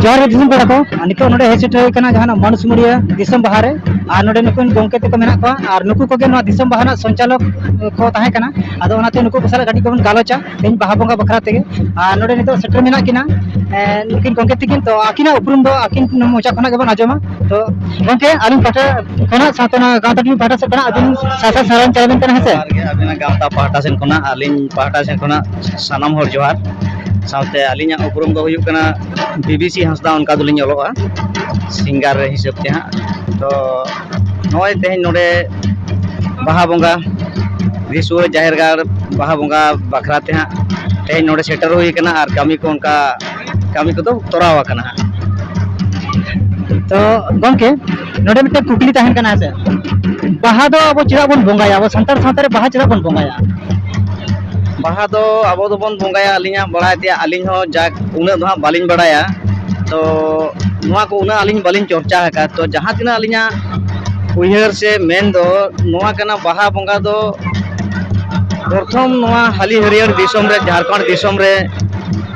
ᱡᱚᱦᱟᱨ ᱜᱮ ᱫᱤᱥᱚᱢ ᱯᱮᱲᱟ ᱠᱚ ᱟᱨ ᱱᱤᱛᱚᱜ ᱱᱚᱰᱮ ᱦᱮᱡ ᱥᱮᱴᱮᱨ ᱦᱩᱭ ᱠᱟᱱᱟ ᱡᱟᱦᱟᱱᱟᱜ ᱢᱟᱱᱩᱥᱢᱩᱲᱤᱭᱟᱹ ᱫᱤᱥᱚᱢ ᱵᱟᱦᱟ ᱨᱮ ᱟᱨ ᱱᱚᱰᱮ ᱱᱩᱠᱩ ᱜᱚᱢᱠᱮ ᱛᱟᱠᱚ ᱢᱮᱱᱟᱜ ᱠᱚᱣᱟ ᱟᱨ ᱱᱩᱠᱩ ᱠᱚᱜᱮ ᱱᱚᱣᱟ ᱫᱤᱥᱚᱢ ᱵᱟᱦᱟ ᱨᱮᱱᱟᱜ ᱥᱚᱧᱪᱟᱞᱚᱠ ᱠᱚ ᱛᱟᱦᱮᱸ ᱠᱟᱱᱟ ᱟᱫᱚ ᱚᱱᱟᱛᱮ ᱱᱩᱠᱩ ᱠᱚ ᱥᱟᱞᱟᱜ ᱠᱟᱹᱴᱤᱡ ᱠᱚᱵᱚᱱ ᱜᱟᱞᱚᱪᱟ ᱛᱮᱦᱮᱧ ᱵᱟᱦᱟ ᱵᱚᱸᱜᱟ ᱵᱟᱠᱷᱨᱟ ᱛᱮᱜᱮ ᱟᱨ ᱱᱚᱰᱮ ᱱᱤᱛᱚᱜ ᱥᱮᱴᱮᱨ ᱢᱮᱱᱟᱜ ᱠᱤᱱᱟ ᱱᱩᱠᱤᱱ ᱜᱚᱢᱠᱮ ᱛᱟᱹᱠᱤᱱ ᱛᱚ ᱟᱹᱠᱤᱱᱟᱜ ᱩᱯᱨᱩᱢ ᱫᱚ ᱟᱹᱠᱤᱱ ᱢᱚᱪᱟ ᱠᱷᱚᱱᱟᱜ ᱜᱮᱵᱚᱱ ᱟᱸᱡᱚᱢᱟ ᱛᱚ ᱜᱚᱝᱠᱮ ᱟᱹᱞᱤᱧ ᱯᱟᱦᱴᱟ ᱠᱷᱚᱱᱟᱜ ᱥᱟᱶᱛᱮ ᱱᱚᱣᱟ ᱜᱟᱶᱛᱟ ᱴᱤᱵᱷᱤ ᱯᱟᱦᱴᱟ ᱥᱮᱫ ᱠᱷᱚᱱᱟᱜ ᱟᱹᱵᱤᱱ ᱥᱟᱶᱛᱟ ᱥᱟᱨᱦᱟᱣ ᱪᱟᱞ ᱟᱵᱤᱱ ᱠᱟᱱᱟ ᱦᱮᱸᱥᱮ ᱜᱮ ᱟᱵᱤᱱᱟᱜ ᱜᱟᱶᱛᱟ ᱯᱟᱦᱴᱟ ᱥᱮᱱ ᱠᱷᱚᱱᱟᱜ ᱟᱹᱞᱤᱧ ᱯᱟᱦᱴᱟ ᱥᱮᱱ ᱠᱷᱚᱱᱟᱜ ᱥᱟᱱᱟᱢ ᱦᱚᱲ ᱡᱚᱦᱟᱨ ᱥᱟᱶᱛᱮ ᱟᱹᱞᱤᱧᱟᱜ ᱩᱯᱨᱩᱢ ᱫᱚ ᱦᱩᱭᱩᱜ ᱠᱟᱱᱟ ᱵᱤᱵᱤᱥᱤ ᱦᱟᱸᱥᱫᱟ ᱚᱱᱠᱟ ᱫᱚᱞᱤᱧ ᱚᱞᱚᱜᱼᱟ ᱥᱤᱝᱜᱟᱨ ᱨᱮ ᱦᱤᱥᱟᱹᱵ ᱛᱮ ᱦᱟᱸᱜ ᱛᱚ ᱱᱚᱜᱼᱚᱭ ᱛᱮᱦᱮᱧ ᱱᱚᱰᱮ ᱵᱟᱦᱟ ᱵᱚᱸᱜᱟ ᱫᱤᱥᱩᱣᱟᱹ ᱡᱟᱦᱮᱨ ᱜᱟᱲ ᱵᱟᱦᱟ ᱵᱚᱸᱜᱟ ᱵᱟᱠᱷᱨᱟ ᱛᱮ ᱦᱟᱸᱜ ᱛᱮᱦᱮᱧ ᱱᱚᱰᱮ ᱥᱮᱴᱮᱨ ᱦᱩᱭ ᱠᱟᱱᱟ ᱟᱨ ᱠᱟᱹᱢᱤ ᱠᱚ ᱚᱱᱠᱟ ᱠᱟᱹᱢᱤ ᱠᱚᱫᱚ ᱛᱚᱨᱟᱣ ᱟᱠᱟᱱᱟ ᱦᱟᱸᱜ ᱛᱚ ᱜᱚᱢᱠᱮ ᱱᱚᱰᱮ ᱢᱤᱫᱴᱮᱱ ᱠᱩᱠᱞᱤ ᱛᱟᱦᱮᱱ ᱠᱟᱱᱟ ᱦᱮᱸᱥᱮ ᱵᱟᱦᱟ ᱫᱚ ᱟᱵᱚ ᱪᱮᱫᱟᱜ ᱵᱚᱱ ᱵᱚᱸᱜᱟᱭᱟ ᱟᱵᱚ ᱥᱟᱱᱛᱟᱲ ᱥᱟᱶᱛᱟ ᱨᱮ ᱵᱟᱦᱟ ᱪᱮᱫᱟᱜ ᱵᱚᱱ ᱵᱚᱸᱜᱟᱭᱟ ᱵᱟᱦᱟ ᱫᱚ ᱟᱵᱚ ᱫᱚᱵᱚᱱ ᱵᱚᱸᱜᱟᱭᱟ ᱟᱹᱞᱤᱧᱟᱜ ᱵᱟᱲᱟᱭ ᱛᱮᱭᱟᱜ ᱟᱹᱞᱤᱧ ᱦᱚᱸ ᱡᱟᱠ ᱩᱱᱟᱹᱜ ᱫᱚ ᱦᱟᱸᱜ ᱵᱟᱹᱞᱤᱧ ᱵᱟᱲᱟᱭᱟ ᱛᱚ ᱱᱚᱣᱟ ᱠᱚ ᱩᱱᱟᱹᱜ ᱟᱹᱞᱤᱧ ᱵᱟᱹᱞᱤᱧ ᱪᱚᱨᱪᱟ ᱟᱠᱟᱫ ᱛᱚ ᱡᱟᱦᱟᱸ ᱛᱤᱱᱟᱹᱜ ᱟᱹᱞᱤᱧᱟᱜ ᱩᱭᱦᱟᱹᱨ ᱥᱮ ᱢᱮᱱ ᱫᱚ ᱱᱚᱣᱟ ᱠᱟᱱᱟ ᱵᱟᱦᱟ ᱵᱚᱸᱜᱟ ᱫᱚ ᱯᱨᱚᱛᱷᱚᱢ ᱱᱚᱣᱟ ᱦᱟᱹᱞᱤ ᱦᱟᱹᱨᱭᱟᱹᱲ ᱫᱤᱥᱚᱢ ᱨᱮ ᱡᱷᱟᱲᱠᱷᱚᱸᱰ ᱫᱤᱥᱚᱢ ᱨᱮ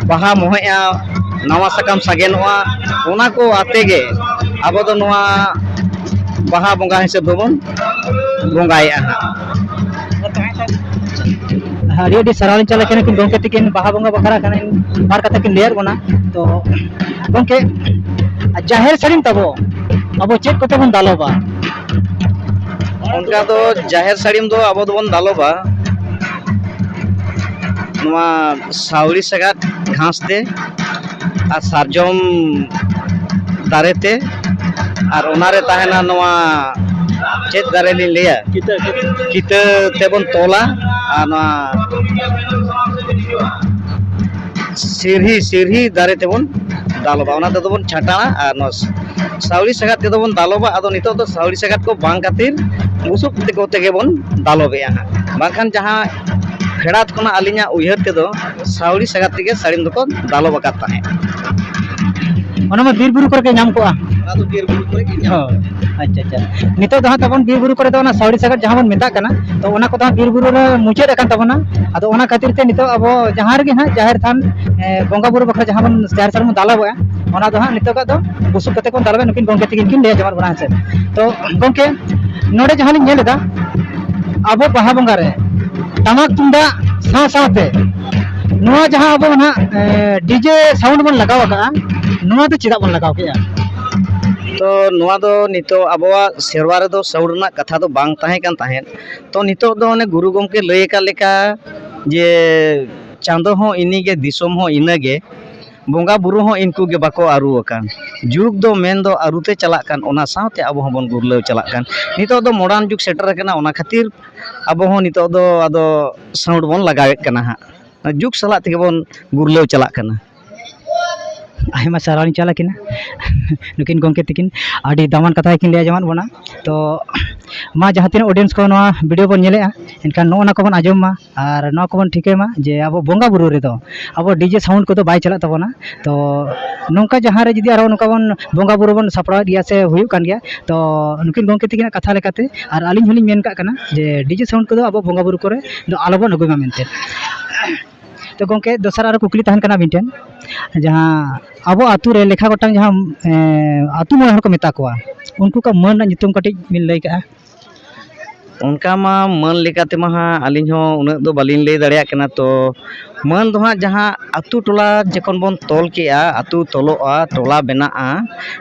ᱵᱟᱦᱟ ᱢᱚᱦᱮᱜᱼᱟ ᱱᱟᱣᱟ ᱥᱟᱠᱟᱢ ᱥᱟᱜᱮᱱᱚᱜᱼᱟ ᱚᱱᱟ ᱠᱚ ᱟᱛᱮ ᱜᱮ ᱟᱵᱚ ᱫᱚ ᱱᱚᱣᱟ ᱵᱟᱦᱟ ᱵᱚᱸᱜᱟ ᱦᱤᱥᱟᱹᱵ ᱫᱚᱵᱚᱱ ᱵᱚᱸᱜᱟᱭᱮᱫᱼᱟ ᱦᱟᱸᱜ ᱟᱹᱰᱤ ᱟᱹᱰᱤ ᱥᱟᱨᱦᱟᱣ ᱞᱤᱧ ᱪᱟᱞᱟᱜ ᱠᱟᱱᱟ ᱠᱤᱱ ᱜᱚᱢᱠᱮ ᱛᱤᱠᱤᱱ ᱵᱟᱦᱟ ᱵᱚᱸᱜᱟ ᱵᱟᱠᱷᱨᱟ ᱠᱷᱟᱱ ᱵᱟᱨ ᱠᱟᱛᱷᱟ ᱠᱤᱱ ᱞᱟᱹᱭᱟᱫ ᱵᱚᱱᱟ ᱛᱚ ᱜᱚᱢᱠᱮ ᱡᱟᱦᱮᱨ ᱥᱟᱹᱲᱤᱢ ᱛᱟᱵᱚ ᱟᱵᱚ ᱪᱮᱫ ᱠᱚᱛᱮ ᱵᱚᱱ ᱫᱟᱞᱚᱵᱟ ᱚᱱᱠᱟ ᱫᱚ ᱡᱟᱦᱮᱨ ᱥᱟᱹᱲᱤᱢ ᱫᱚ ᱟᱵᱚ ᱫᱚᱵᱚᱱ ᱫᱟᱞᱚᱵᱟ ᱱᱚᱣᱟ ᱥᱟᱣᱲᱤ ᱥᱟᱜᱟᱫ ᱜᱷᱟᱥ ᱛᱮ ᱟᱨ ᱥᱟᱨᱡᱚᱢ ᱫᱟᱨᱮ ᱛᱮ ᱟᱨ ᱚᱱᱟᱨᱮ ᱛᱟᱦᱮᱱᱟ ᱱᱚᱣᱟ ᱪᱮᱫ ᱫᱟᱨᱮ ᱞᱤᱧ ᱞᱟᱹᱭᱟ ᱠᱤᱛᱟᱹ ᱠᱤᱛᱟᱹ ᱛᱮᱵᱚᱱ ᱛᱚᱞᱟ ᱟᱨ ᱱᱚᱣᱟ ᱥᱤᱨᱦᱤ ᱥᱤᱨᱦᱤ ᱫᱟᱨᱮ ᱛᱮᱵᱚᱱ ᱫᱟᱞᱚᱵᱟ ᱚᱱᱟ ᱛᱮᱫᱚ ᱵᱚᱱ ᱪᱷᱟᱴᱟᱜᱼᱟ ᱟᱨ ᱱᱚᱣᱟ ᱥᱟᱹᱣᱲᱤ ᱥᱟᱜᱟᱫ ᱛᱮᱫᱚ ᱵᱚᱱ ᱫᱟᱞᱚᱵᱟ ᱟᱫᱚ ᱱᱤᱛᱚᱜ ᱫᱚ ᱥᱟᱹᱣᱲᱤ ᱥᱟᱜᱟᱫ ᱠᱚ ᱵᱟᱝ ᱠᱷᱟᱹᱛᱤᱨ ᱵᱩᱥᱩᱵ ᱠᱚᱛᱮ ᱜᱮᱵᱚᱱ ᱫᱟᱞᱚᱵᱮᱜᱼᱟ ᱦᱟᱸᱜ ᱵᱟᱝᱠᱷᱟᱱ ᱡᱟᱦᱟᱸ ᱯᱷᱮᱰᱟᱛ ᱠᱷᱚᱱᱟᱜ ᱟᱹᱞᱤᱧᱟᱜ ᱩᱭᱦᱟᱹᱨ ᱛᱮᱫᱚ ᱥᱟᱹᱣᱲᱤ ᱥᱟᱜᱟᱫ ᱛᱮᱜᱮ ᱥᱟᱹᱲᱤᱢ ᱫᱚᱠᱚ ᱫᱟᱞᱚᱵ ᱟᱠᱟᱫ ᱛᱟᱦᱮᱸᱫ ᱚᱱᱟ ᱢᱟ ᱵᱤᱨᱼᱵᱩᱨᱩ ᱠᱚᱨᱮ ᱜᱮ ᱧᱟᱢ ᱠᱚᱜᱼᱟ ᱚᱱᱟ ᱫᱚ ᱵᱤᱨᱼᱵᱩᱨᱩ ᱠᱚᱨᱮ ᱜᱮ ᱧᱟᱢ ᱠᱚᱜᱼᱟ ᱟᱪᱪᱷᱟ ᱟᱪᱪᱷᱟ ᱱᱤᱛᱚᱜ ᱫᱚ ᱦᱟᱸᱜ ᱛᱟᱵᱚᱱ ᱵᱤᱨ ᱵᱩᱨᱩ ᱠᱚᱨᱮ ᱫᱚ ᱚᱱᱟ ᱥᱟᱹᱣᱲᱤ ᱥᱟᱜᱟᱫ ᱡᱟᱦᱟᱸ ᱵᱚᱱ ᱢᱮᱛᱟᱜ ᱠᱟᱱᱟ ᱛᱚ ᱚᱱᱟ ᱠᱚᱫᱚ ᱦᱟᱸᱜ ᱵᱤᱨ ᱵᱩᱨᱩ ᱨᱮ ᱢᱩᱪᱟᱹᱫ ᱟᱠᱟᱱ ᱛᱟᱵᱚᱱᱟ ᱟᱫᱚ ᱚᱱᱟ ᱠᱷᱟᱹᱛᱤᱨ ᱛᱮ ᱱᱤᱛᱚᱜ ᱟᱵᱚ ᱡᱟᱦᱟᱸ ᱨᱮᱜᱮ ᱦᱟᱸᱜ ᱡᱟᱦᱮᱨ ᱛᱷᱟᱱ ᱮ, ᱵᱚᱸᱜᱟ ᱵᱩᱨᱩ ᱵᱟᱠᱷᱨᱟ ᱡᱟᱦᱟᱸ ᱵᱚᱱ ᱡᱟᱦᱮᱨ ᱛᱷᱟᱱ ᱵᱚᱱ ᱫᱟᱞᱚᱵᱚᱜᱼᱟ ᱚᱱᱟ ᱫᱚ ᱦᱟᱸᱜ ᱱᱤᱛᱚᱜᱟᱜ ᱫᱚ ᱵᱩᱥᱩᱵ ᱠᱟᱛᱮ ᱵᱚᱱ ᱫᱟᱞᱚᱵᱟ ᱱᱩᱠᱤᱱ ᱜᱚᱢᱠᱮ ᱛᱤᱠᱤᱱ ᱠᱤᱱ ᱞᱟᱹᱭᱟ ᱡᱚᱦᱟᱨ ᱵᱟᱲᱟ ᱦᱮᱸᱥᱮ ᱛᱚ ᱜᱚᱢᱠᱮ ᱱᱚᱰᱮ ᱡᱟᱦᱟᱸ ᱞᱤᱧ ᱧᱮᱞ ᱮᱫᱟ ᱟᱵᱚ ᱵᱟᱦᱟ ᱵᱚᱸᱜᱟ ᱨᱮ ᱴᱟᱢᱟᱠ ᱛᱩᱢᱫᱟᱜ ᱥᱟᱶ ᱥᱟᱶᱛᱮ ᱱᱚᱣᱟ ᱡᱟᱦᱟᱸ ᱟᱵᱚ ᱱᱟᱦᱟᱜ ᱰᱤᱡᱮ ᱥᱟᱣᱩᱱᱰ ᱵᱚᱱ ᱞᱟᱜᱟᱣ ᱟᱠᱟᱜᱼᱟ ᱱᱚᱣᱟ ᱫᱚ ᱪᱮᱫᱟᱜ ᱵᱚᱱ ᱞᱟᱜᱟᱣ ᱠᱮᱜᱼᱟ ᱛᱚ ᱱᱚᱣᱟ ᱫᱚ ᱱᱤᱛᱚᱜ ᱟᱵᱚᱣᱟᱜ ᱥᱮᱨᱣᱟ ᱨᱮᱫᱚ ᱥᱟᱹᱣᱩᱲ ᱨᱮᱱᱟᱜ ᱠᱟᱛᱷᱟ ᱫᱚ ᱵᱟᱝ ᱛᱟᱦᱮᱸ ᱠᱟᱱ ᱛᱟᱦᱮᱸᱫ ᱛᱚ ᱱᱤᱛᱚᱜ ᱫᱚ ᱚᱱᱮ ᱜᱩᱨᱩ ᱜᱚᱢᱠᱮ ᱞᱟᱹᱭ ᱟᱠᱟᱫ ᱞᱮᱠᱟ ᱡᱮ ᱪᱟᱸᱫᱚ ᱦᱚᱸ ᱤᱱᱤᱜᱮ ᱫᱤᱥᱚᱢ ᱦᱚᱸ ᱤᱱᱟᱹᱜᱮ ᱵᱚᱸᱜᱟ ᱵᱳᱨᱳ ᱦᱚᱸ ᱤᱱᱠᱩ ᱜᱮ ᱵᱟᱠᱚ ᱟᱹᱨᱩ ᱟᱠᱟᱱ ᱡᱩᱜᱽ ᱫᱚ ᱢᱮᱱᱫᱚ ᱟᱹᱨᱩ ᱛᱮ ᱪᱟᱞᱟᱜ ᱠᱟᱱ ᱚᱱᱟ ᱥᱟᱶᱛᱮ ᱟᱵᱚ ᱦᱚᱸᱵᱚᱱ ᱜᱩᱨᱞᱟᱹᱣ ᱪᱟᱞᱟᱜ ᱠᱟᱱ ᱱᱤᱛᱚᱜ ᱫᱚ ᱢᱚᱰᱟᱨᱱ ᱡᱩᱜᱽ ᱥᱮᱴᱮᱨ ᱟᱠᱟᱱᱟ ᱚᱱᱟ ᱠᱷᱟᱹᱛᱤᱨ ᱟᱵᱚ ᱦᱚᱸ ᱱᱤᱛᱚᱜ ᱫᱚ ᱟᱫᱚ ᱥᱟᱹᱣᱩᱲ ᱵᱚᱱ ᱞᱟᱜᱟᱣᱮᱫ ᱠᱟᱱᱟ ᱦᱟᱸᱜ ᱡᱩᱜᱽ ᱥᱟᱞᱟᱜ ᱛᱮᱜᱮ ᱵᱚᱱ ᱜᱩᱨᱞᱟᱹᱣ ᱪᱟᱞᱟᱜ ᱠᱟᱱᱟ ᱟᱭᱢᱟ ᱥᱟᱨᱦᱟᱣ ᱤᱧ ᱪᱟᱞ ᱟᱹᱠᱤᱱᱟ ᱱᱩᱠᱤᱱ ᱜᱚᱢᱠᱮ ᱛᱟᱹᱠᱤᱱ ᱟᱹᱰᱤ ᱫᱟᱢᱟᱱ ᱠᱟᱛᱷᱟ ᱜᱮᱠᱤᱱ ᱞᱟᱹᱭ ᱟᱸᱡᱚᱢᱟᱫ ᱵᱚᱱᱟ ᱛᱚ ᱢᱟ ᱡᱟᱦᱟᱸ ᱛᱤᱱᱟᱹᱜ ᱚᱰᱤᱭᱮᱱᱥ ᱠᱚ ᱱᱚᱣᱟ ᱵᱷᱤᱰᱭᱳ ᱵᱚᱱ ᱧᱮᱞᱮᱫᱼᱟ ᱮᱱᱠᱷᱟᱱ ᱱᱚᱜᱼᱚ ᱱᱚᱣᱟ ᱠᱚᱵᱚᱱ ᱟᱸᱡᱚᱢ ᱢᱟ ᱟᱨ ᱱᱚᱣᱟ ᱠᱚᱵᱚᱱ ᱴᱷᱤᱠᱟᱹᱭ ᱢᱟ ᱡᱮ ᱟᱵᱚ ᱵᱚᱸᱜᱟᱼᱵᱩᱨᱩ ᱨᱮᱫᱚ ᱟᱵᱚ ᱰᱤᱡᱮ ᱥᱟᱣᱩᱱᱰ ᱠᱚᱫᱚ ᱵᱟᱭ ᱪᱟᱞᱟᱜ ᱛᱟᱵᱚᱱᱟ ᱛᱚ ᱱᱚᱝᱠᱟ ᱡᱟᱦᱟᱸ ᱨᱮ ᱡᱩᱫᱤ ᱟᱨᱚ ᱱᱚᱝᱠᱟ ᱵᱚᱱ ᱵᱚᱸᱜᱟᱼᱵᱩᱨᱩ ᱵᱚᱱ ᱥᱟᱯᱲᱟᱣᱮᱫ ᱜᱮᱭᱟ ᱥᱮ ᱦᱩᱭᱩᱜ ᱠᱟᱱ ᱜᱮᱭᱟ ᱛᱚ ᱱᱩᱠᱤᱱ ᱜᱚᱢᱠᱮ ᱛᱟᱹᱠᱤᱱᱟᱜ ᱠᱟᱛᱷᱟ ᱞᱮᱠᱟᱛᱮ ᱟᱨ ᱟᱹᱞᱤᱧ ᱦᱚᱸᱞᱤᱧ ᱢᱮᱱ ᱠᱟᱜ ᱠᱟᱱᱟ ᱡᱮ ᱰᱤᱡᱮ ᱥᱟᱣᱩᱱᱰ ᱠᱚᱫᱚ ᱟᱵᱚ ᱵᱚᱸᱜᱟᱼᱵᱩᱨᱩ ᱠᱚᱨᱮ ᱫᱚ ᱟᱞᱚ ᱵᱚᱱ ᱟᱹᱜᱩᱭ ᱢᱟ ᱢᱮᱱᱛᱮ ᱛᱚ ᱜᱚᱢᱠᱮ ᱫᱚᱥᱟᱨ ᱟᱨᱚ ᱠᱩᱠᱞᱤ ᱛᱟᱦᱮᱱ ᱠᱟᱱᱟ ᱢᱤᱫᱴᱮᱱ ᱡᱟᱦᱟᱸ ᱟᱵᱚ ᱟᱛᱳ ᱨᱮ ᱞᱮᱠᱷᱟ ᱜᱚᱴᱟᱝ ᱡᱟᱦᱟᱸ ᱟᱛᱳ ᱢᱚᱬᱮ ᱦᱚᱲ ᱠᱚ ᱢᱮᱛᱟ ᱠᱚᱣᱟ ᱩᱱᱠᱩ ᱠᱚᱣᱟᱜ ᱢᱟᱹᱱ ᱨᱮᱱᱟᱜ ᱧᱩᱛᱩᱢ ᱠᱟᱹᱴᱤᱡ ᱵᱤᱱ ᱞᱟᱹᱭ ᱠᱟᱜᱼᱟ ᱚᱱᱠᱟ ᱢᱟ ᱢᱟᱹᱱ ᱞᱮᱠᱟ ᱛᱮᱢᱟ ᱦᱟᱸᱜ ᱟᱹᱞᱤᱧ ᱦᱚᱸ ᱩᱱᱟᱹᱜ ᱫᱚ ᱵᱟᱹᱞᱤᱧ ᱞᱟᱹᱭ ᱫᱟᱲᱮᱭᱟᱜ ᱠᱟᱱᱟ ᱛᱚ ᱢᱟᱹᱱ ᱫᱚ ᱦᱟᱸᱜ ᱡᱟᱦᱟᱸ ᱟᱛᱳ ᱴᱚᱞᱟ ᱡᱚᱠᱷᱚᱱ ᱵᱚᱱ ᱛᱚᱞ ᱠᱮᱜᱼᱟ ᱟᱛᱳ ᱛᱚᱞᱚᱜᱼᱟ ᱴᱚᱞᱟ ᱵᱮᱱᱟᱜᱼᱟ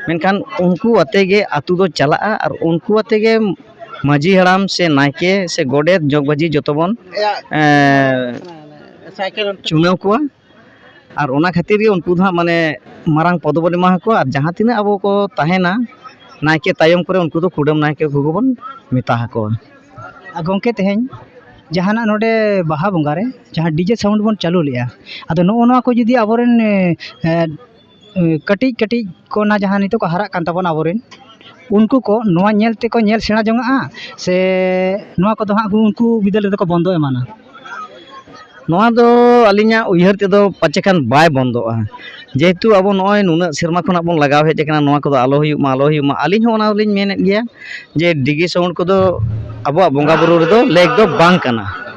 ᱢᱮᱱᱠᱷᱟᱱ ᱩᱱᱠᱩ ᱟᱛᱮᱜ ᱜᱮ ᱟᱛᱳ ᱫᱚ ᱪᱟᱞᱟᱜᱼᱟ ᱟᱨ ᱩᱱᱠᱩ ᱟᱛᱮᱜ ᱜᱮ ᱢᱟᱺᱡᱷᱤ ᱦᱟᱲᱟᱢ ᱥᱮ ᱱᱟᱭᱠᱮ ᱥᱮ ᱜᱚᱰᱮᱛ ᱡᱚᱜᱽ ᱢᱟᱺᱡᱷᱤ ᱡᱚᱛᱚ ᱵᱚᱱ ᱪᱩᱱᱟᱹᱣ ᱠᱚᱣᱟ ᱟᱨ ᱚᱱᱟ ᱠᱷᱟᱹᱛᱤᱨ ᱜᱮ ᱩᱱᱠᱩ ᱫᱚ ᱦᱟᱸᱜ ᱢᱟᱱᱮ ᱢᱟᱨᱟᱝ ᱯᱚᱫᱽ ᱵᱚᱱ ᱮᱢᱟ ᱠᱚᱣᱟ ᱟᱨ ᱡᱟᱦᱟᱸ ᱛᱤᱱᱟᱹᱜ ᱟᱵᱚ ᱠᱚ ᱛᱟᱦᱮᱱᱟ ᱱᱟᱭᱠᱮ ᱛᱟᱭᱚᱢ ᱠᱚᱨᱮ ᱩᱱᱠᱩ ᱫᱚ ᱠᱩᱰᱟᱹᱢ ᱱᱟᱭᱠᱮ ᱠᱚᱜᱮ ᱵᱚᱱ ᱢᱮᱛᱟ ᱟᱠᱚᱣᱟ ᱟᱨ ᱜᱚᱢᱠᱮ ᱛᱮᱦᱮᱧ ᱡᱟᱦᱟᱱᱟᱜ ᱱᱚᱰᱮ ᱵᱟᱦᱟ ᱵᱚᱸᱜᱟᱨᱮ ᱡᱟᱦᱟᱸ ᱰᱤᱡᱮ ᱥᱟᱣᱩᱱᱰ ᱵᱚᱱ ᱪᱟᱹᱞᱩ ᱞᱮᱫᱼᱟ ᱟᱫᱚ ᱱᱚᱜᱼᱚ ᱱᱚᱣᱟ ᱠᱚ ᱡᱩᱫᱤ ᱟᱵᱚ ᱨᱮᱱ ᱠᱟᱹᱴᱤᱡ ᱠᱟᱹᱴᱤᱡ ᱠᱚ ᱚᱱᱟ ᱡᱟᱦᱟᱸ ᱱᱤᱛᱚᱜ ᱠᱚ ᱦᱟᱨᱟᱜ ᱠᱟᱱ ᱛᱟᱵᱚᱱᱟ ᱟᱵᱚᱨᱮᱱ ᱩᱱᱠᱩ ᱠᱚ ᱱᱚᱣᱟ ᱧᱮᱞ ᱛᱮᱠᱚ ᱧᱮᱞ ᱥᱮᱬᱟ ᱡᱚᱱᱟᱜᱼᱟ ᱥᱮ ᱱᱚᱣᱟ ᱠᱚᱫᱚ ᱦᱟᱸᱜ ᱩᱱᱠᱩ ᱵᱤᱫᱟᱹᱞ ᱨᱮᱫᱚ ᱠᱚ ᱵᱚᱱᱫᱚ ᱮᱢᱟᱱᱟ ᱱᱚᱣᱟ ᱫᱚ ᱟᱹᱞᱤᱧᱟᱜ ᱩᱭᱦᱟᱹᱨ ᱛᱮᱫᱚ ᱯᱟᱪᱮ ᱠᱷᱟᱱ ᱵᱟᱭ ᱵᱚᱱᱫᱚᱜᱼᱟ ᱡᱮᱦᱮᱛᱩ ᱟᱵᱚ ᱱᱚᱜᱼᱚᱭ ᱱᱩᱱᱟᱹᱜ ᱥᱮᱨᱢᱟ ᱠᱷᱚᱱᱟᱜ ᱵᱚᱱ ᱞᱟᱜᱟᱣ ᱦᱮᱡ ᱠᱟᱱᱟ ᱱᱚᱣᱟ ᱠᱚᱫᱚ ᱟᱞᱚ ᱦᱩᱭᱩᱜ ᱢᱟ ᱟᱞᱚ ᱦᱩᱭᱩᱜ ᱢᱟ ᱟᱹᱞᱤᱧ ᱦᱚᱸ ᱚᱱᱟ ᱫᱚᱞᱤᱧ ᱢᱮᱱᱮᱫ ᱜᱮᱭᱟ ᱡᱮ ᱰᱤᱡᱮ ᱥᱟᱣᱩᱱᱰ ᱠᱚᱫᱚ ᱟᱵᱚᱣᱟᱜ ᱵᱚᱸᱜᱟᱼᱵᱩᱨᱩ ᱨᱮᱫᱚ ᱞᱮᱠ ᱫᱚ ᱵᱟᱝ ᱠᱟᱱᱟ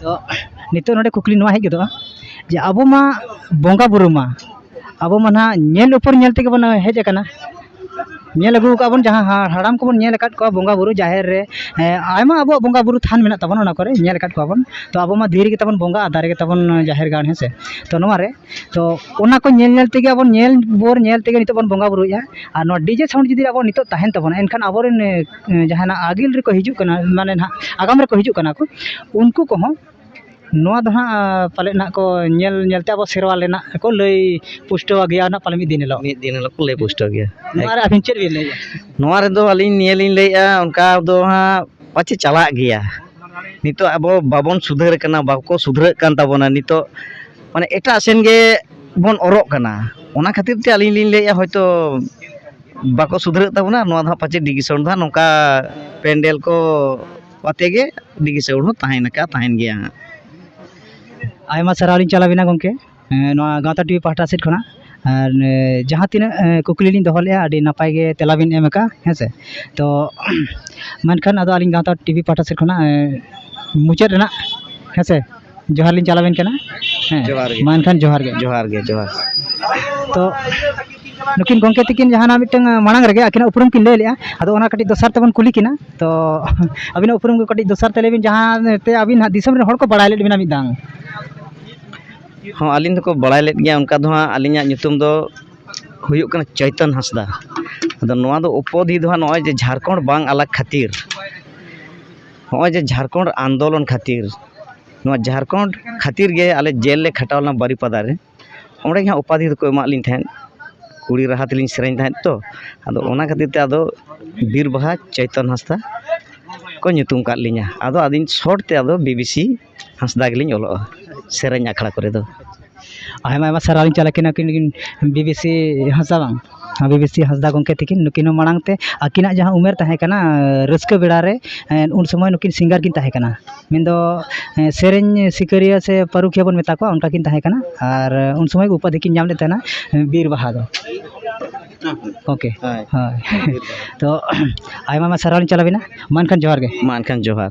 ᱛᱚ ᱱᱤᱛᱚᱜ ᱱᱚᱰᱮ ᱠᱩᱠᱞᱤ ᱱᱚᱣᱟ ᱦᱮᱡ ᱜᱚᱫᱚᱜᱼᱟ ᱡᱮ ᱟᱵᱚ ᱢᱟ ᱵᱚᱸᱜᱟ ᱵᱳᱨᱳ ᱢᱟ ᱟᱵᱚ ᱢᱟ ᱱᱟᱦᱟᱜ ᱧᱮᱞ ᱩᱯᱚᱨ ᱧᱮᱞ ᱛᱮᱜᱮ ᱵᱚᱱ ᱦᱮᱡ ᱟᱠᱟᱱᱟ ᱧᱮᱞ ᱟᱹᱜᱩ ᱠᱟᱜᱼᱟ ᱵᱚᱱ ᱡᱟᱦᱟᱸ ᱦᱟᱲᱟᱢ ᱠᱚᱵᱚᱱ ᱧᱮᱞ ᱟᱠᱟᱫ ᱠᱚᱣᱟ ᱵᱚᱸᱜᱟ ᱵᱳᱨᱳ ᱡᱟᱦᱮᱨ ᱨᱮ ᱟᱭᱢᱟ ᱟᱵᱚᱣᱟᱜ ᱵᱚᱸᱜᱟ ᱵᱳᱨᱳ ᱛᱷᱟᱱ ᱢᱮᱱᱟᱜ ᱛᱟᱵᱚᱱᱟ ᱚᱱᱟ ᱠᱚᱨᱮᱜ ᱧᱮᱞ ᱟᱠᱟᱫ ᱠᱚᱣᱟ ᱵᱚᱱ ᱛᱚ ᱟᱵᱚ ᱢᱟ ᱫᱷᱤᱨᱤ ᱜᱮᱛᱟ ᱵᱚᱱ ᱵᱚᱸᱜᱟ ᱟᱨ ᱫᱟᱨᱮ ᱜᱮᱛᱟ ᱵᱚᱱ ᱡᱟᱦᱮᱨ ᱜᱟᱲ ᱦᱮᱸ ᱥᱮ ᱛᱚ ᱱᱚᱣᱟ ᱨᱮ ᱛᱚ ᱚᱱᱟ ᱠᱚ ᱧᱮᱞ ᱧᱮᱞ ᱛᱮᱜᱮ ᱟᱵᱚ ᱧᱮᱞ ᱵᱷᱳᱨ ᱧᱮᱞ ᱛᱮᱜᱮ ᱱᱤᱛᱚᱜ ᱵᱚᱱ ᱵᱚᱸᱜᱟ ᱵᱳᱨᱳᱭᱮᱜᱼᱟ ᱟᱨ ᱱᱚᱣᱟ ᱰᱤᱡᱮ ᱥᱟᱣᱩᱱᱰ ᱡᱩᱫᱤ ᱟᱵᱚᱣᱟᱜ ᱱᱤᱛᱚᱜ ᱛᱟᱦᱮᱱ ᱛᱟᱵᱚᱱᱟ ᱮᱱᱠᱷᱟᱱ ᱟᱵᱚ ᱨᱮᱱ ᱡᱟᱦᱟᱱᱟᱜ ᱟᱹᱜᱤᱞ ᱨᱮᱠᱚ ᱦᱤᱡᱩᱜ ᱠᱟᱱᱟ ᱢᱟᱱᱮ ᱱᱟᱦᱟᱜ ᱟᱜᱟᱢ ᱨᱮᱠᱚ ᱦᱤᱡᱩᱜ ᱠᱟᱱᱟ ᱠᱚ ᱩᱱᱠᱩ ᱠᱚᱦᱚᱸ ᱱᱚᱣᱟ ᱫᱚ ᱱᱟᱦᱟᱜ ᱯᱟᱞᱮᱫ ᱱᱟᱦᱟᱜ ᱠᱚ ᱧᱮᱞ ᱧᱮᱞ ᱛᱮ ᱟᱵᱚ ᱥᱮᱨᱣᱟ ᱨᱮᱱᱟᱜ ᱠᱚ ᱞᱟᱹᱭ ᱯᱩᱥᱴᱟᱹᱣ ᱟᱜᱮᱭᱟ ᱱᱟᱦᱟᱜ ᱯᱟᱞᱮᱱ ᱢᱤᱫ ᱫᱤᱱ ᱦᱤᱞᱳᱜ ᱢᱤᱫ ᱫᱤᱱ ᱦᱤᱞᱳᱜ ᱠᱚ ᱞᱟᱹᱭ ᱯᱩᱥᱴᱟᱹᱣ ᱜᱮᱭᱟ ᱱᱚᱣᱟ ᱨᱮ ᱟᱹᱵᱤᱱ ᱪᱮᱫ ᱵᱤᱱ ᱞᱟᱹᱭᱮᱜᱼᱟ ᱱᱚᱣᱟ ᱨᱮᱫᱚ ᱟᱹᱞᱤᱧ ᱱᱤᱭᱟᱹ ᱞᱤᱧ ᱞᱟᱹᱭᱮᱜᱼᱟ ᱚᱱᱠᱟ ᱫᱚ ᱦᱟᱸᱜ ᱯᱟᱪᱮᱫ ᱪᱟᱞᱟᱜ ᱜᱮᱭᱟ ᱱᱤᱛᱚᱜ ᱟᱵᱚ ᱵᱟᱵᱚᱱ ᱥᱩᱫᱷᱟᱹᱨ ᱠᱟᱱᱟ ᱵᱟᱠᱚ ᱥᱩᱫᱷᱨᱟᱹᱜ ᱠᱟᱱ ᱛᱟᱵᱚᱱᱟ ᱱᱤᱛᱚᱜ ᱢᱟᱱᱮ ᱮᱴᱟᱜ ᱥᱮᱱ ᱜᱮᱵᱚᱱ ᱚᱨᱚᱜ ᱠᱟᱱᱟ ᱚᱱᱟ ᱠᱷᱟᱹᱛᱤᱨ ᱛᱮ ᱟᱹᱞᱤᱧ ᱞᱤᱧ ᱞᱟᱹᱭᱮᱜᱼᱟ ᱦᱚᱭᱛᱳ ᱵᱟᱠᱚ ᱥᱩᱫᱷᱨᱟᱹᱜ ᱛᱟᱵᱚᱱᱟ ᱱᱚᱣᱟ ᱫᱚ ᱦᱟᱸᱜ ᱯᱟᱪᱮᱫ ᱰᱤ ᱠᱮ ᱥᱟᱣᱩᱱᱰ ᱫᱚ ᱦᱟᱸᱜ ᱱᱚᱝᱠᱟ ᱯᱮᱱᱰᱮᱞ ᱠᱚ ᱟᱛᱮᱫ ᱜᱮ ᱰᱤ ᱠᱮ ᱥᱟᱣᱩᱱᱰ ᱦᱚᱸ ᱛᱟᱦᱮᱱ ᱞᱮᱠᱟ ᱛᱟᱦᱮᱱ ᱜᱮᱭᱟ ᱦᱟᱸᱜ ᱟᱭᱢᱟ ᱥᱟᱨᱦᱟᱣ ᱞᱤᱧ ᱪᱟᱞ ᱟᱵᱮᱱᱟ ᱜᱚᱢᱠᱮ ᱱᱚᱣᱟ ᱜᱟᱶᱛᱟ ᱴᱤᱵᱷᱤ ᱯᱟᱦᱴᱟ ᱥᱮᱫ ᱠᱷᱚᱱᱟᱜ ᱟᱨ ᱡᱟᱦᱟᱸ ᱛᱤᱱᱟᱹᱜ ᱠᱩᱠᱞᱤ ᱞᱤᱧ ᱫᱚᱦᱚ ᱞᱮᱫᱼᱟ ᱟᱹᱰᱤ ᱱᱟᱯᱟᱭ ᱜᱮ ᱛᱮᱞᱟ ᱵᱤᱱ ᱮᱢ ᱠᱟᱜᱼᱟ ᱦᱮᱸ ᱥᱮ ᱛᱳ ᱢᱮᱱᱠᱷᱟᱱ ᱟᱫᱚ ᱟᱹᱞᱤᱧ ᱜᱟᱶᱛᱟ ᱴᱤᱵᱷᱤ ᱯᱟᱦᱴᱟ ᱥᱮᱫ ᱠᱷᱚᱱᱟᱜ ᱢᱩᱪᱟᱹᱫ ᱨᱮᱱᱟᱜ ᱦᱮᱸ ᱥᱮ ᱡᱚᱦᱟᱨ ᱞᱤᱧ ᱪᱟᱞᱟᱵᱮᱱ ᱠᱟᱱᱟ ᱦᱮᱸ ᱡᱚᱦᱟᱨ ᱜᱮ ᱢᱟ ᱮᱱᱠᱷᱟᱱ ᱡᱚᱦᱟᱨ ᱜᱮ ᱡᱚᱦᱟᱨ ᱜᱮ ᱡᱚᱦᱟᱨ ᱛᱚ ᱱᱩᱠᱤᱱ ᱜᱚᱢᱠᱮ ᱛᱤᱠᱤᱱ ᱡᱟᱦᱟᱱᱟᱜ ᱢᱤᱫᱴᱟᱝ ᱢᱟᱲᱟᱝ ᱨᱮᱜᱮ ᱟᱹᱠᱤᱱᱟᱜ ᱩᱯᱨᱩᱢ ᱠᱤᱱ ᱞᱟᱹᱭ ᱞᱮᱜᱼᱟ ᱟᱫᱚ ᱚᱱᱟ ᱠᱟᱹᱴᱤᱡ ᱫᱚᱥᱟᱨ ᱛᱮᱵᱚᱱ ᱠᱩᱞᱤ ᱠᱤᱱᱟ ᱛᱚ ᱟᱹᱵᱤᱱᱟᱜ ᱩᱯᱨᱩᱢ ᱠᱚ ᱠᱟᱹᱴᱤᱡ ᱫᱚᱥᱟᱨ ᱛᱮ ᱞᱟᱹᱭ ᱵᱤᱱ ᱡᱟᱦᱟᱸ ᱛᱮ ᱟᱹᱵᱤᱱ ᱦᱟᱸᱜ ᱫᱤᱥᱚᱢ ᱨᱮᱱ ᱦᱚᱲ ᱠᱚ ᱵᱟᱲᱟᱭ ᱞᱮᱫ ᱵᱤᱱᱟ ᱢᱤᱫ ᱫᱷᱟᱣ ᱦᱚᱸ ᱟᱹᱞᱤᱧ ᱫᱚᱠᱚ ᱵᱟᱲᱟᱭ ᱞᱮᱫ ᱜᱮᱭᱟ ᱚᱱᱠᱟ ᱫᱚ ᱦᱟᱸᱜ ᱟᱹᱞᱤᱧᱟᱜ ᱧᱩᱛᱩᱢ ᱫᱚ ᱦᱩᱭᱩᱜ ᱠᱟᱱᱟ ᱪᱳᱭᱛᱚᱱ ᱦᱟᱸᱥᱫᱟ ᱟᱫᱚ ᱱᱚᱣᱟ ᱫᱚ ᱩᱯᱟᱫᱷᱤ ᱫᱚ ᱦᱟᱸᱜ ᱱᱚᱜᱼᱚᱭ ᱡᱮ ᱡᱷᱟᱲᱠᱷᱚᱸᱰ ᱵᱟᱝ ᱟᱞᱟᱜᱽ ᱠᱷᱟᱹᱛᱤᱨ ᱱᱚᱜᱼᱚᱭ ᱡᱮ ᱡᱷᱟᱲᱠᱷᱚᱸᱰ ᱟᱱᱫᱳᱞᱚᱱ ᱠᱷᱟᱹᱛᱤᱨ ᱱᱚᱣᱟ ᱡᱷᱟᱲᱠᱷᱚᱸᱰ ᱠᱷᱟᱹᱛᱤᱨ ᱜᱮ ᱟᱞᱮ ᱡᱮᱞ ᱞᱮ ᱠᱷᱟᱴᱟᱣ ᱞᱮᱱᱟ ᱵᱟᱨᱤᱯᱟᱫᱟ ᱨᱮ ᱚᱸᱰᱮ ᱜᱮᱦᱟᱸᱜ ᱩᱯᱟᱫᱷᱤ ᱫᱚᱠᱚ ᱮᱢᱟᱜ ᱞᱤᱧ ᱛᱟᱦᱮᱸᱫ ᱠᱩᱲᱤ ᱨᱟᱦᱟ ᱛᱮᱞᱤᱧ ᱥᱮᱨᱮᱧ ᱛᱟᱦᱮᱸᱫ ᱛᱚ ᱟᱫᱚ ᱚᱱᱟ ᱠᱷᱟᱹᱛᱤᱨ ᱛᱮ ᱟᱫᱚ ᱵᱤᱨᱵᱟᱦᱟ ᱪᱳᱭᱛᱚᱱ ᱦᱟᱸᱥᱫᱟ ᱠᱚ ᱧᱩᱛᱩᱢ ᱠᱟᱜ ᱞᱤᱧᱟᱹ ᱟᱫᱚ ᱟᱹᱞᱤᱧ ᱥᱚᱨᱴ ᱛᱮ ᱟᱫᱚ ᱵᱤᱵᱤᱥᱤ ᱦᱟᱸᱥᱫᱟ ᱜᱮᱞᱤᱧ ᱚᱞᱚᱜᱼᱟ ᱥᱮᱨᱮᱧ ᱟᱠᱷᱲᱟ ᱠᱚᱨᱮ ᱫᱚ ᱟᱭᱢᱟ ᱟᱭᱢᱟ ᱥᱟᱨᱦᱟᱣ ᱞᱤᱧ ᱪᱟᱞ ᱟᱹᱠᱤᱱᱟ ᱩᱱᱠᱤᱱ ᱵᱤ ᱵᱤ ᱥᱤ ᱦᱟᱸᱥᱫᱟ ᱵᱟᱝ ᱵᱤ ᱵᱤ ᱥᱤ ᱦᱟᱸᱥᱫᱟ ᱜᱚᱢᱠᱮ ᱛᱟᱹᱠᱤᱱ ᱱᱩᱠᱤᱱ ᱦᱚᱸ ᱢᱟᱲᱟᱝ ᱛᱮ ᱟᱹᱠᱤᱱᱟᱜ ᱡᱟᱦᱟᱸ ᱩᱢᱮᱨ ᱛᱟᱦᱮᱸ ᱠᱟᱱᱟ ᱨᱟᱹᱥᱠᱟᱹ ᱵᱮᱲᱟ ᱨᱮ ᱩᱱ ᱥᱚᱢᱚᱭ ᱱᱩᱠᱤᱱ ᱥᱤᱝᱜᱟᱨ ᱠᱤᱱ ᱛᱟᱦᱮᱸ ᱠᱟᱱᱟ ᱢᱮᱱ ᱫᱚ ᱥᱮᱨᱮᱧ ᱥᱤᱠᱟᱹᱨᱤᱭᱟᱹ ᱥᱮ ᱯᱟᱹᱨᱩᱠᱷᱤᱭᱟᱹ ᱵᱚᱱ ᱢᱮᱛᱟ ᱠᱚᱣᱟ ᱚᱱᱠᱟ ᱠᱤᱱ ᱛᱟᱦᱮᱸ ᱠᱟᱱᱟ ᱟᱨ ᱩᱱ ᱥᱚᱢᱚᱭ ᱩᱯᱟᱫᱷᱤ ᱠᱤᱱ ᱧᱟᱢ ᱞᱮᱫ ᱛᱟᱦᱮᱱᱟ ᱵᱤᱨ ᱵᱟᱦᱟ ᱫᱚ ᱳᱠᱮ ᱦᱳᱭ ᱛᱚ ᱟᱭᱢᱟ ᱟᱭᱢᱟ ᱥᱟᱨᱦᱟᱣ ᱞᱤᱧ ᱪᱟᱞ ᱟᱹᱵᱤᱱᱟ ᱢᱟ ᱮᱱᱠᱷᱟᱱ ᱡᱚᱦᱟᱨ ᱜᱮ ᱢᱟ ᱮᱱᱠᱷᱟᱱ ᱡᱚᱦᱟᱨ